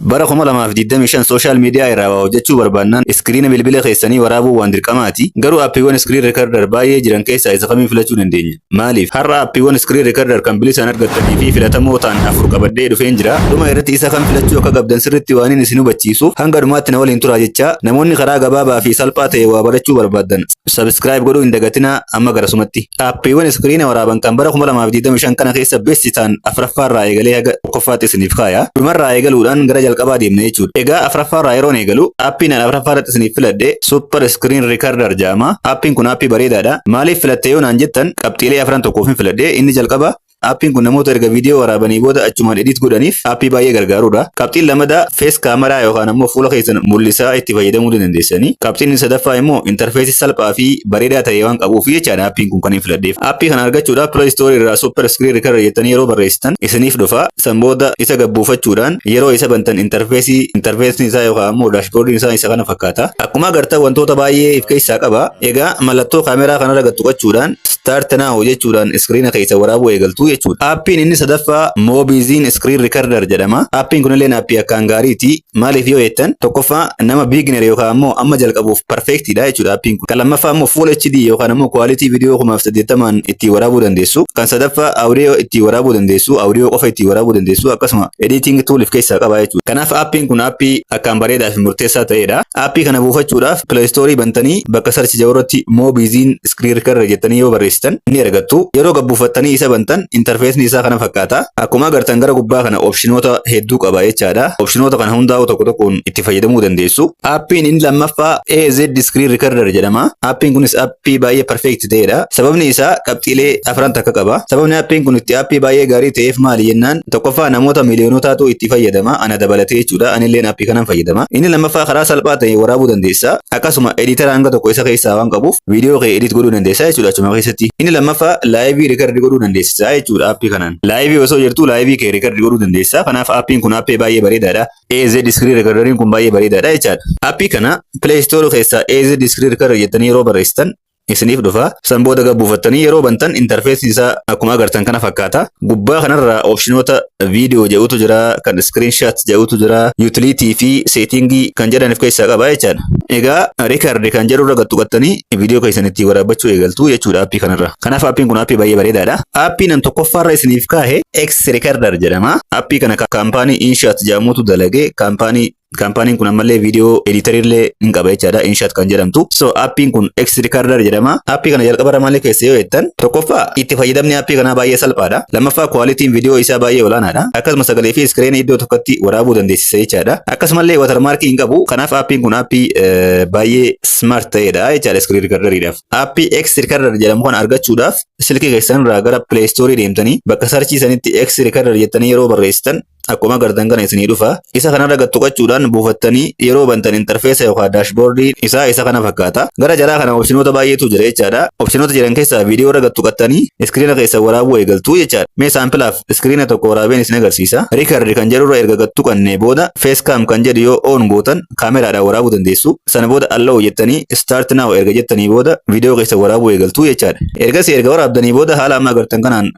Bara 2025 social media irraa waa hojjechuu barbaannaan iskiriina bilbila keessanii waraabuun waan dirqamaati. Garuu appiiwwan screen recorder baay'ee jiran keessaa isa kamiin filachuu dandeenya? Maaliif? Har'a appiiwwan screen recorder kan bilisaan argattanii fi filatamoo ta'an afur qabadhee dhufeen jira. Dhuma irratti isa kam filachuu akka qabdan sirriitti waanin isin hubachiisu hanga dhumaatti na waliin turaa jechaa. Namoonni karaa gabaabaa fi salphaa ta'een waa barachuu barbaaddan. Subscribe godhuu hin dagatinaa amma garasumatti. Aappiiwwan iskiriina waraaban kan bara 2025 kana keessa besti ta'an afraffaarraa eegalee haga tokkoffaatti isiniif kaaya. Dhumarraa eegaluudhaan gara jalqabaa deemna jechuudha. Egaa afraffaarraa yeroon eegalu aappiin an afraffaarratti isiniif filadhe Super Screen Recorder jedhama. Aappiin kun aappii bareedaadha. Maaliif filatte yoo naan jettan qabxiilee afran tokkoofin filadhe. Inni jalqaba Aappiin kun namoota erga viidiyoo waraabanii booda achumaan edit godhaniif aappii baay'ee gargaarudha. Qabxiin lamadaa face camera yookaan ammoo fuula keessan mul'isaa itti fayyadamuu ni dandeessanii. Qabxiin inni sadaffaa immoo interface salphaa fi bareedaa ta'e waan qabuufi jechaadha aappiin kun kan hin filadheef. Aappii kana argachuudhaaf play store irraa super screen recorder jettanii yeroo barreessitan isiniif dhufa. San booda isa gad buufachuudhaan yeroo isa bantan interface interface isaa yookaan ammoo dashboard isaa isa kana fakkaata. Akkuma agartan wantoota baay'ee if keessaa qaba. Egaa mallattoo kaameraa kanarra gad tuqachuudhaan Start Now jechuudhaan iskiriina keessa waraabuu eegaltu jechuudha. Aappiin inni sadaffaa Moobiiziin Screen Recorder jedhama. Aappiin kunilleen aappii akkaan gaariiti. Maaliif yoo jettan tokkoffaa nama beginner yookaan ammoo amma jalqabuuf perfect dha jechuudha aappiin kun. Kan lammaffaa ammoo Full HD yookaan ammoo quality video 1080n ittiin waraabuu dandeessu. Kan sadaffaa audio ittiin waraabuu dandeessu, audio qofa ittiin waraabuu dandeessu akkasuma editing tool of keessaa qaba jechuudha. Kanaaf aappiin kun aappii akkaan bareedaa fi murteessaa ta'edha. Aappii kana buufachuudhaaf Play Store bantanii bakka search jedhu irratti Moobiiziin Clear Curry jettanii yoo barreessitan ni argattu. Yeroo gad buufattanii isa bantan interfeesni isaa kana fakkaata. Akkuma agartan gara gubbaa kana opshinoota hedduu qaba jechaadha. Opshinoota kana hundaa'uu tokko tokkoon itti fayyadamuu dandeessu. Appiin inni lammaffaa AZ Screen Recorder jedhama. Appiin kunis appii baay'ee perfect ta'edha. Sababni isaa qabxiilee afran takka qaba. Sababni appiin kun itti appii baay'ee gaarii ta'eef maali jennaan Tokkoffaa namoota miiliyoonotaatuu itti fayyadama, ana dabalatee jechuudha. Anilleen appii kanan fayyadama. Inni lammaffaa karaa salphaa ta'een waraabuu dandeessa. Akkasuma editara hanga tokko isa keessaa waan qabuuf viidiyoo kee edit godhuu dandeessa jechuudha achuma keessatti. Inni lammaffaa laayivii rikardi godhuu dandeessisa jechuudha appii kanaan. Laayivii osoo jirtuu laayivii kee rikardi godhuu dandeessa. Kanaaf appiin kun appee baay'ee bareedaadha. AZ Screen Recorderiin kun baay'ee bareedaadha jechaadha. Appii kana Play Store keessaa AZ Screen Recorder jettanii yeroo barreessitan isiniif dhufa. San booda gad buufattanii yeroo bantan interfeesiin isaa akkuma agartan kana fakkaata. Gubbaa kanarraa opshinoota viidiyoo jedhutu jira, kan screenshot jedhutu jira, utility fi setting kan jedhan of keessaa qaba jechaadha. Egaa record kan jedhurra gad tuqattanii viidiyoo keessan ittiin waraabbachuu eegaltu jechuudha aappii kanarra. Kanaaf aappiin kun aappii baay'ee bareedaadha. Aappii nan tokkoffaarra isiniif kaahe X Recorder jedhama. Aappii kana kaampaanii Inshat jedhamutu dalage. Kaampaanii Kaampaaniin kun ammallee viidiyoo ediitarii illee hin qaba jechaadha. Inshaat kan jedhamtu. So appiin kun X Recorder jedhama. Appii kana jalqaba irra maal keessa yoo jettan tokkoffaa itti fayyadamni appii kanaa baay'ee salphaadha. Lammaffaa kwaalitiin viidiyoo isaa baay'ee olaanaadha. Akkasuma sagalee fi iskireenii iddoo tokkotti waraabuu dandeessisa jechaadha. Akkasumallee watarmaarkii hin qabu. Kanaaf appiin kun appii eh, baay'ee smart ta'edha jechaadha iskiriin rikardariidhaaf. Appii X Recorder jedhamu kana argachuudhaaf silkii keessan irraa gara Play Store deemtanii bakka sarchii sanitti X Recorder jettanii yeroo barreessitan Akkuma agartan kana isinii dhufa. Isa kanarra gad tuqachuudhaan buufattanii yeroo bantan intarfeesa yookaan daashboordiin isaa isa kana fakkaata. Gara jalaa kana opshinoota baay'eetu jira jechaadha. Opshinoota jiran keessaa viidiyoo irra gad tuqattanii iskiriina keessan waraabuu eegaltu jechaadha. Mee saampilaaf iskiriina tokko waraabeen isin agarsiisa. Record kan jedhurra erga gad tuqannee booda facecam kan jedhu yoo on gootan kaameraadhaan waraabuu dandeessu. Sana booda allow jettanii start now erga jettanii booda viidiyoo keessan waraabuu eegaltu jechaadha. Ergasii erga waraabdanii booda haala amma agartan kanaan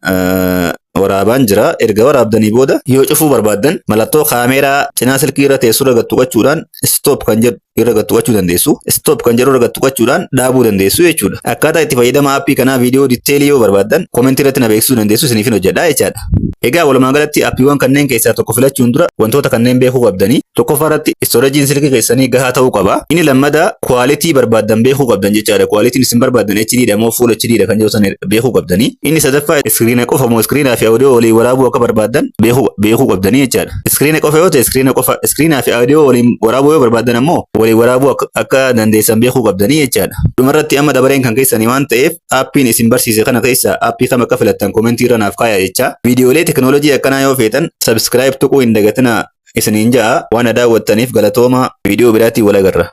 waraabaan jira. Erga waraabdanii booda yoo cufuu barbaaddan mallattoo kaameeraa cinaa silkii irra teessu irra gad tuqachuudhaan stop kan jedhu irra gad tuqachuu dandeessu. Stop kan jedhu irra gad tuqachuudhaan dhaabuu dandeessu jechuudha. Akkaataa itti fayyadama aappii kanaa viidiyoo ditteelii yoo barbaaddan komentii irratti na beeksisuu dandeessu isiniifin hojjedha jechaadha. Egaa walumaa galatti aappiiwwan kanneen keessaa tokko filachuun dura wantoota kanneen beekuu qabdanii tokkoffaa irratti istoreejiin silkii keessanii gahaa ta'uu qaba. Inni lammadaa kwaalitii barbaaddan beekuu qabdan jechaadha. Kwaalitiin isin barbaaddan HD dha moo full HD dha kan jedhu sana beekuu qabdanii. Inni sadaffaa iskiriina qofa moo iskiriinaa fi audio waliin waraabuu akka barbaaddan beekuu beekuu qabdanii jechaadha. Iskiriina qofa yoo ta'e iskiriina qofa iskiriinaa fi audio waliin waraabuu yoo barbaaddan ammoo waliin waraabuu akka, akka dandeessan beekuu qabdanii jechaadha. Dhumarratti amma dabareen kan keessanii waan ta'eef aappiin isin barsiise kana keessaa aappii kam akka filattan komentii irra naaf kaayaa jechaa. Viidiyoolee teknoolojii akkanaa yoo feetan subscribe tuquu hin dagatinaa isiniin ja'a waan na daawwattaniif galatoomaa viidiyoo biraatiin wal agarra.